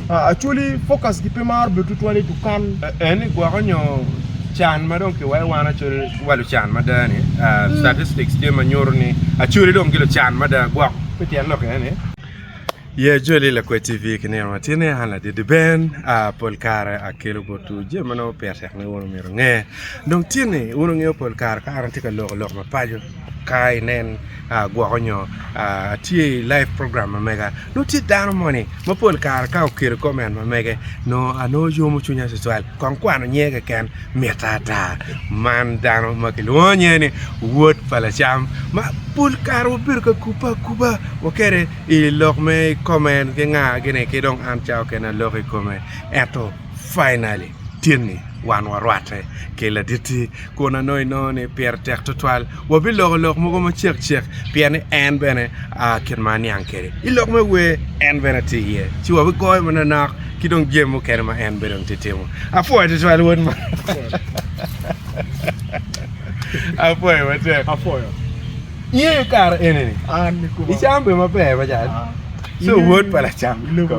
Actually focus gi pe maro bedo tutwal i dukan. En ni gwoko nyo can ma dong kiwayo wan actually wa lucan mada ni statistics tye ma nyuto ni actually dong gilucan mada gwok me tyen lok aye ni. Yeah Joli Lakwed TV ki nino ma tye ni an Ladidi Ben pol kare akelo botwu jami ma nongo pire tek ni wun omyero wunge dong tye ni wun wungeyo pol kare ka an atye ka loko lok mapaco ka inen agwoko nyo atye i live program ma mega nongo tye dano moni ma pol kare ka oketo comment ma mege nongo anongo yomo cwinya tutwal kong kwano nyinge keken mita ata man dano ma kilwongo nyinge ni wod pa lacam ma pol kare wabedo ka kubbe akuba wa kede i lok me comment ki nga gini ki dong an cawa kene aloko i kome ento Finally, tye ni wan warwatte ki Laditti, kun anongo inongo ni pire tek twatwal wabiloko lok mogo macek cek pien ni en bene kit ma aniang kwede i lok me wer en bene tye iye, ci wabigoyo manonok ki dong jami mukene ma en bene tye timo. Apwoyo twatwal wod ma. Apwoyo matek. Apwoyo. Iye kare eni ni. An ni kuma. Icambe maber macan. So word pa lacam ki lobo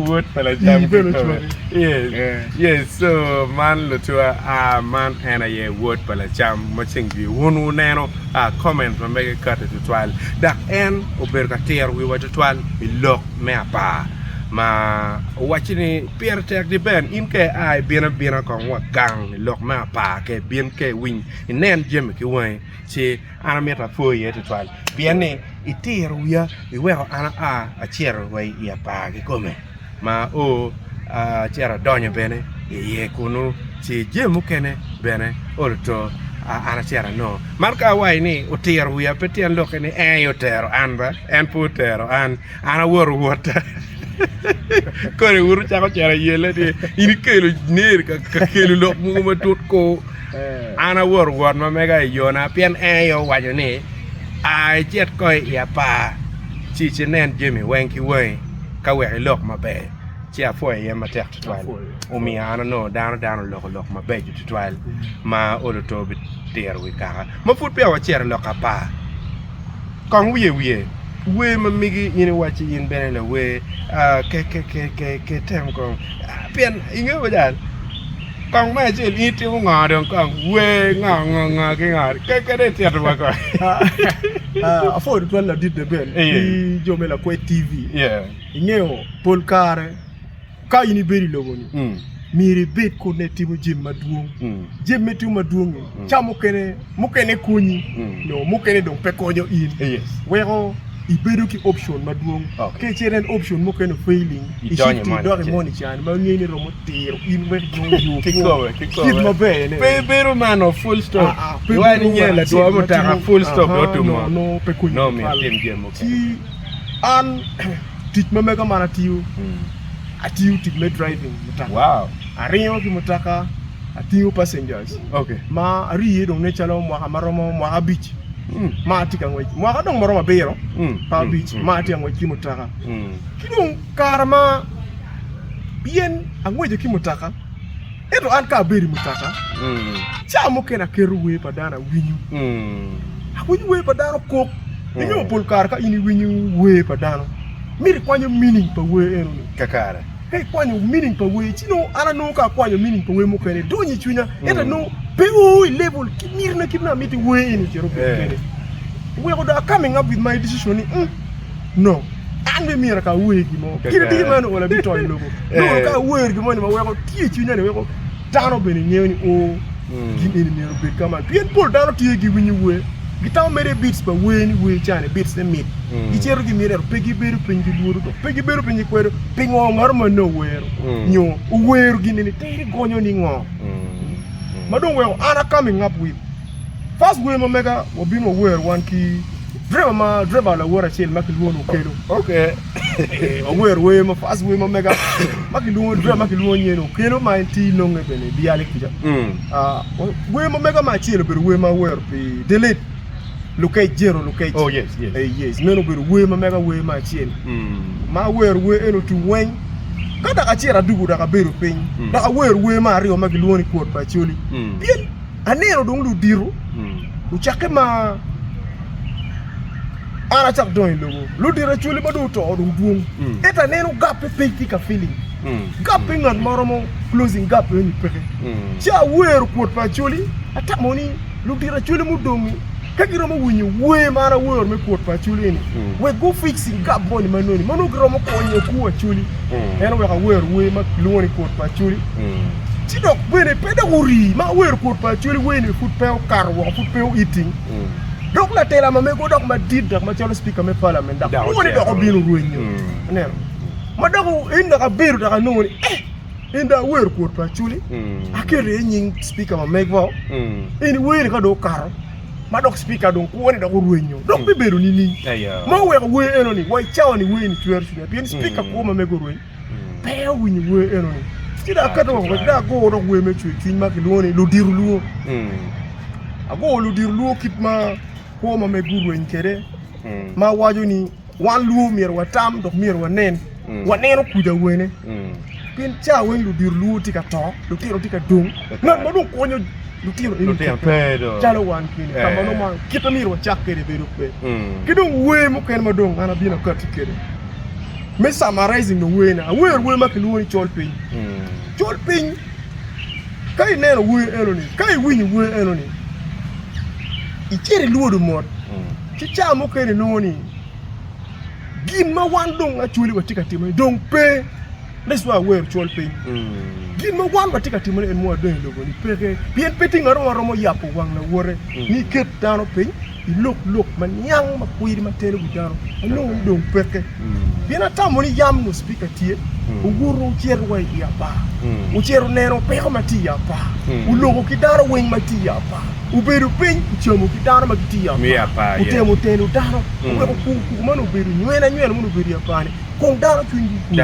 word pa lacam ki lobo yes yes so man lucwa ah man en aye word pa lacam ma ceng jwi wun wuneno ah comment ma mege kati tutwal dok en obedo ka tiro wiwa tutwal i lok me apar ma owacci ni pire tek di ben in ka ia ibino abina kong wa gang i lok me apar ka ibin ka iwiny inen jami ki wangi ci An amito apwoyi iye twatwal pien ni itiro wiya iweko an aa acito wa i apar kikome ma o acito adonyo bene iye kunu ci jami mukene bene ol oto an acito anongo man ka awaco ni otiro wiya pe tyen lokke ni ee otero an ba en pe otero an An awoto wota. Kodi wuto cako cera yele ni in ikelo ner ka kelo lok mugo matut ko. Eh. An awoto wot ma mega i yona pien en aye owaco ni a icit ko i apar ci inen jami weng ki wangi ka wek ilok maber. Ci apwoyo iye matek tutwal. Omiyo an onongo dano dano oloko lok mabeco tutwal ma olo to bitiro wi kaka ma pud peya wacito i lok apar. Kong wiye wiye. Wer ma migi in iwacci in bene lawer kekekeke tem kong pien ingeyo wede an kong me acel in itimo ngo dong kong wer ngo ngo ngo ki ngo kekekeke dong itito wa kong. Apwodo twal ladit de ben ki jo me lakwed TV ingeyo pol kare Ka in ibedo i lobo-ni, myero ibed kutne itimo jami madwong. Jami ma itimo madwong-ngi, ca mukene, mukene konyi, nyo mukene dong pe konyo in, weko ibedo ki option madwong. Ka icito en option mukene o-failing, icito idok i moni ca-ni ma ingeo ni romo tiro in wek inong yo kwo, kit maber-ne. Pe bedo man o, full stop. Aa, pe bedo wacce nyo ladwo mutoka, full stop, dong otum oo. Nongo pe konyi tutwal. Ci an. Tic ma mega man atiyo, atiyo tic me driving mutoka. Aringo ki mutoka, atingo passengers. Ma ari iye dong ne calo mwaka ma romo mwaka abic ma atye ka ngwec, mwaka dong ma romo abiro pa abic ma atye ka ngwec ki mutoka. Ki dong kare ma pien angweco ki mutoka, Ento an ka abedo i mutoka, cawa mukene aketo wer pa dano awinyo. Awinyo wer pa dano kop. Inongo pol kare ka in iwinyo wer pa dano, mito ikwanyo meaning pa wer enoni. Kakare. Ka ikwanyo meaning pa wer, ci nongo an anongo ka akwanyo meaning pa wer mukene, donyo i cwinya. Ento nongo pe oo i level ki mitina kit ma amito wer eni ocito obedo kwede. Oweko dong a coming up with my decision ni, no an bene myero ka awer gin mo kit atir ma onongo labit to i lobo nongo ka awer gin moni ma weko tye i cwinya ni weko dano bene ngeyo ni o gin eni myero obed ka man pien pol dano tye giwinyo wer gitamo mere bits pa wer ni wer cani bits ne mit gicito gimito ento pe gibedo piny gilwodo dong pe gibedo piny gikwedo pingo ngato manne owero nyo owero gin eni tir igonyo ni ngo ma dong weko an aka mi ngap wil pac wer ma mega wabino wawero wan ki Driver ma driver lawote acel ma kilwongo ni Okello. Okay. Eh, wawero wer ma first wer ma mega ma kilwongo driver ma kilwongo nyinge ni Okello ma en ti nonge bene i Biale kuca. Mm. Ah, wa- wer ma mega ma acel obedo wer ma wero pi delete lukec jero lukec. Oh, yes, yes. Eh, yes, meno obedo wer ma mega wer ma acel. Mm. Ma awero wer eno tung weng. Ka dok acito adugu dok abedo piny. Mm. Dok awero wer ma aryo ma kilwongo ni kwot pa Acholi. Mm. Pien Aneno dong ludito ocakke ma an acako dongo i lobo. Ludito acwali ma dong oto dong dwong. Hmm. Ento aneno gape piny ki ka feeling. Hmm. Gape ngat ma romo closing gap ni peke. Hmm. Ci awero kwot pa acwali atamo ni ludito acwali mudongi ka giromo winyo wer ma an awero me kwot pa acwali ni wek gu fixing gap moni ma noni ma nongo giromo konyo ku acwali. en oweko awer wer ma kilwongo ni Kut pa Acoli ci dok bene pe dok orii ma awero Kut pa Acoli werni pud pe okato woko pud pe oiting dok latela ma mego dok madit dok macalo Cipika me Palamen dok lwongo ni dok obino rwenyo ineno ma dok en dok abedo dok anongo ni ee en dong awer Kut pa Acoli aketo iye nying Cipika ma megwa eni werni ka dong okato ma dok Cipika dong kwo ni dok orwenyo dong bibedo nining? Ma oweko wer eno ni wa i cawa ni wer ni cwero cwinya pien Cipika kwo ma mege orweny pe owinyo wer eno ni. Ci dong aketo woko ci dong aguro dok wer me cwer cwiny ma kilwongo ni ludito lwongo. Aguro ludito lwongo kit ma kwo ma mege orweny kwede ma waco ni. Wan luo myero watam dok myero wanen, waneno kwidi awene. Pien cawa weng ludiro luo tye ka to, lutino tye ka dong, ngat ma dong konyo lutino eni pe calo wan keni. Ka mano ma kit ma myero wacak kwede bedo pe. Ki dong wer mukene ma dong an abino akati kwede me summarizing dong werna, awer wer ma kilwongo ni col piny. Col piny ka ineno wer enoni, ka iwinyo wer enoni, icit ilwodo mot. Ci cawa mukene inongo ni gin ma wan dong acwali watye ka timone dong pe. That's why awero cwal piny. Gin ma wan watye ka timone en mwa dong i lobo-ni peke, pien pe tye ngat mo ma romo yabo wang lawote ni iket dano piny ilok lok ma niang ma kwir ma telo wi dano. Anongo ni dong peke. Pien atamo ni yam nus pika tye, wubuto wucito wa i apar, wucito neno peko ma tye i apar, wuluko ki dano weng ma tye i apar, wubedo piny wucamo ki dano ma gitye i apar, wutemo teno dano, wuweko kuku kuku meno obedo nywena nywena meno obedo i apar-ni, kong dano cwinygi okwe.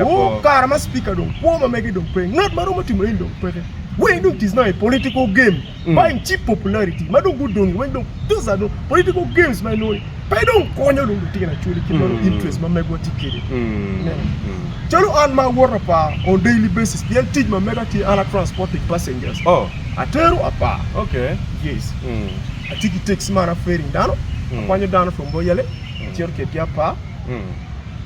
Woo, kare ma cipika dong kwo ma mege dong pe, ngat ma romo timo eni dong peke, weny dong it is now a political game. bany cheap popularity ma dong gudongi weng dong those are dong political games ma inongo ni pe dong konyo dong lutino actually kit ma dong interest ma megwa tye kwede. Ineno? Calo an ma awoto apar on daily basis pien tic ma mega tye an a transporting passengers, Oh. atero apar, Okay. yes, atye ki taxi ma an a ferrying dano, akwanyo dano from Boyale acito kedgi apar.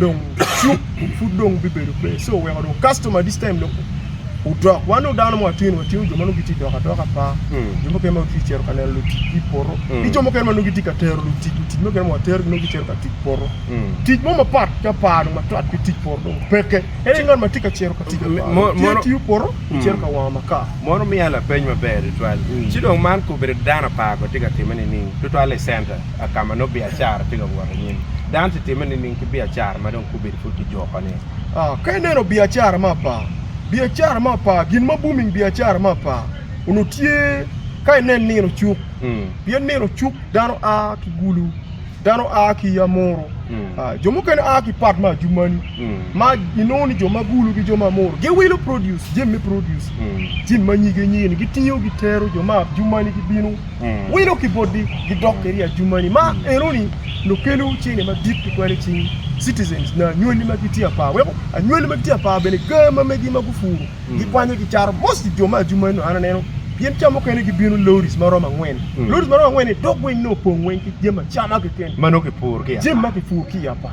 dong cuk pud dong bibedo pe so oweko dong customer this time dong odok wan dong dano ma watye ni watye jo ma nongo gitye dok adoka par jo mukene ma gitye cito ka neno luticgi i poto ki jo mukene ma nongo gitye ka tero lutic lutic mukene ma waterogi nongo gicito ka tic poto tic mo mapat ki apar dong mapat ki tic poto dong peke en aye ngat ma tye ka cito ka tic apar dong tye tiyo poto cito ka wango makar Mono miya lapeny maber tutwal. Ci dong man kobedo dano apar bene tye ka timme nining? Tutwal i center. ka ma nongo biacara tye ka wot i nyim. Dano tye timme nining ki biacara ma dong gubedo pud kijukone? Ka ineno biacara me apar, biacara me apar, gin ma booming biacara me apar onongo tye ka inen nino cuk. Pien nino cuk dano a ki Gulu, dano a ki Amuru, jo mukene a ki part me Adjumani, ma inongo ni jo ma Gulu ki jo ma Amuru giwilo produce, jami me produce, jami ma nyige nyige-ni gitingo gitero, jo me Adjumani gibino. wilo ki botgi gidok kede i ajumani ma enoni nongo kelo cene madit tutwal i cing citizens nyo anywali ma gitye apar weko anywali ma gitye apar bene gaa ma megi ma gupuro gikwanyo gicato most jo ma ajumani nongo an aneno pien ca mukene gibino loris ma romo angwen loris ma romo angwen-ni dok weng nongo opong weng ki jami acama keken ma nongo kipuro ki i apar jami ma kipuro ki i apar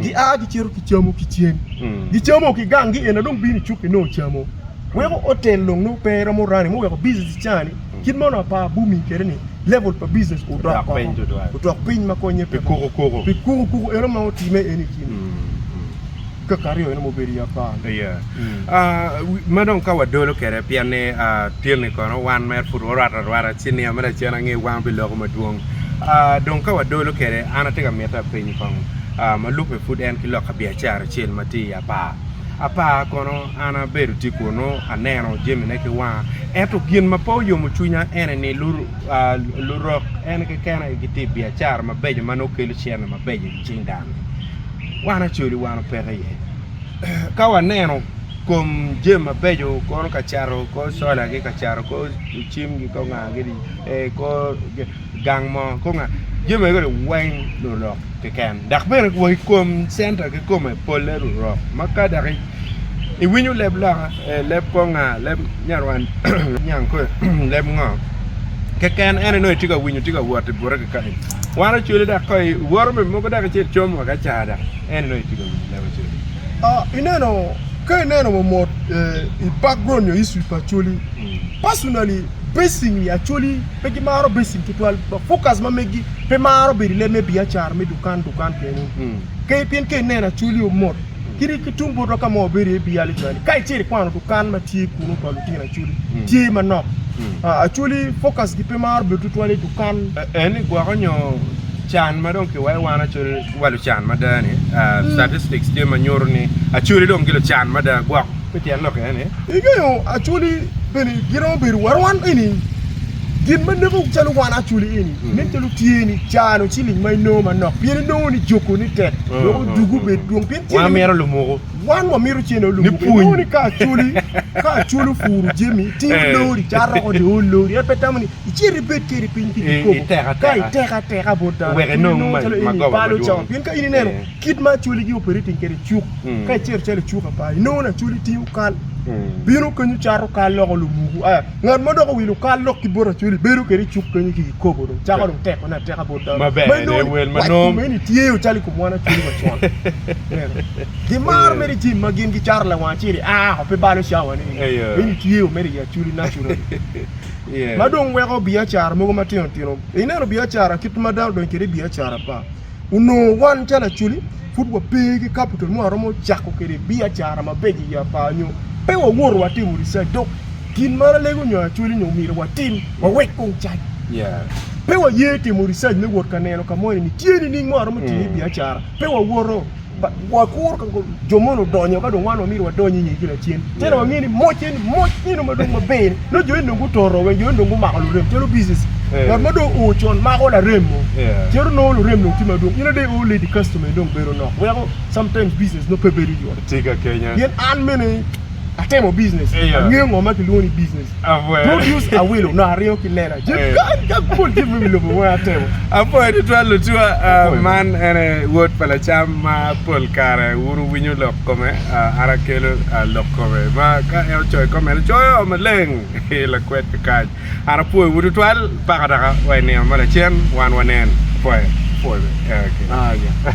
gia gicito gicamo ki cen, gicamo ki gang gi ena dong bino i cuk inongo camo weko hotel dong nongo pe romo running mo weko business ica ni kit mono apa booming kede ni level pa business odok koko odok piny ma konye pe koko pi koko koko eno ma otime eni kini kaka aryo eno ma obedo i apar ni. Ma dong ka wadolo kwede pien ni tyeni kono wan mere pud warwatte arwata ci niang me lacen ange wang biloko madwong. Dong ka wadolo kwede an atye ka miti apenyi kong ma lubbe pud en ki loka biacara acel ma tye i apar. Apar kono an abedo tye kunu aneno jamine ki wanga ento gin ma pe oyomo cwinya ene ni lurok en keken aye gitye i biacara mabeco ma nongo kelo cente mabeco i cing dano-ni. Wan acoli wan opeke iye. Ka waneno kom jami mabeco kono ka cato kor cola ki ka cato kor cim ki kor nga kidi kor gang mo kor nga jami eni weng lurok keken dok bene wa ki kom centa kikome polle lurok ma ka dok iwinyo leb loka, leb kor nga, leb nyarwanda, leb nyankole, leb ngo keken en aye itye ka winyo tye ka wot bute kikany wan ocwale dok ka iwoto me mogo dok icomo wa ki acara dok en aye itye ka winyo Ineno, ka ineno mamot i background nyo history pa Acholi, personally basing i Acholi pe gimaro basing tutwal. Focus ma megi pe maro bedo i leb me biacara me dukan dukan kene. Ka pien ka ineno Acholi omot kadi ki tung botwa ka ma wabedo iye Biali cwani, ka icito ikwano dukan ma tye kunu pa lutino Acholi, tye manok. Acholi focus-gi pe maro bedo tutwal i dukan. En ni gwoko nyo can ma dong kiweko wan Acholi. wa lucan mada ni statistics tye ma nyuto ni acholi dong ki lucan mada gwok me tyen lok aye ni ingeyo acholi bene giromo bedo warwan eni gin ma neko calo wan acholi eni nen calo tye ni cano ciling ma inongo manok pien inongo ni joko ni tek dok odugu bed dwong pien wan mito lumuko wan wa mito cene lumuko inongo ni ka acholi ka acholi opuro jami tingo lori cato oko dong olori en pe tamo ni Icit ibed kede piny pi kikopo ka iteko ateka bot dano wek inong mac ma goba madwong. Pien ka in ineno kit ma Acholi gi operating kede cuk, ka icito calo icuk apa, inongo ni Acholi tingo kal, bino kenyu cato kal loko lumuku. Aya, ngat ma dok owilo kal lok ki bot Acholi bedo kede icuk kenyu ki kikopo dong, cako dong tekone ateka bot dano. Ma inongo ni wac kome eni tyeyo calo i kom wan Acholi wa con. Ineno? Gimaro mere jami ma gin gicato lawang acel-li, aa oko pe balo cawa-ni, eni tyeyo mere i Acholi naturally. ma dong weko biacara mogo matino tino. Ineno biacara kit ma dano donyo kwede i biacara pa onongo wan calo Acholi pud wape ki capital mo waromo cako kwede biacara mabeco i yaa par nyo pe wawoto watimo research dok gin ma Alego nyo Acholi nyo myero watim wawek kong cac. Pe waye timo research me wot ka neno ka moni ni tye nining ma waromo tiyo iye biacara pe wawoto. Wakur ka jo moni odonyo ka dong wan wamyero wadony i ngegi lacen. Cen wangeyo ni moc eni moc nino ma dong maber-ni. Nongo jo eni dong gutoro weng, jo eni dong gumako lurem calo biicis. Ngat ma dong oo con mako larem mo, cito nongo lurem dong tye madwong. In ade i oo ledi kacitoma eni dong bedo nok, weko sometimes biicis nongo pe bedo yot. Pien an mene. Atemo business. Eya. Angeyo ngo ma kilwongo ni business. Abwe. Produce awilo no aringo ki lela. Je Eh. kan ka kul je me lobo weng atemo. Apoyo tutwal lutua ah, Apoyo. man en aye wod pa lacam ma pol kare wun wuwinyo lok kome ah, an akelo ah, lok kome ma ka en ocoyo i comment coyo maleng hi lakwed kakac an apwoyowu tutwal paka daka wa i nino ma lacen wan wanen apoyo apoyo eh, okay. Ah, yeah.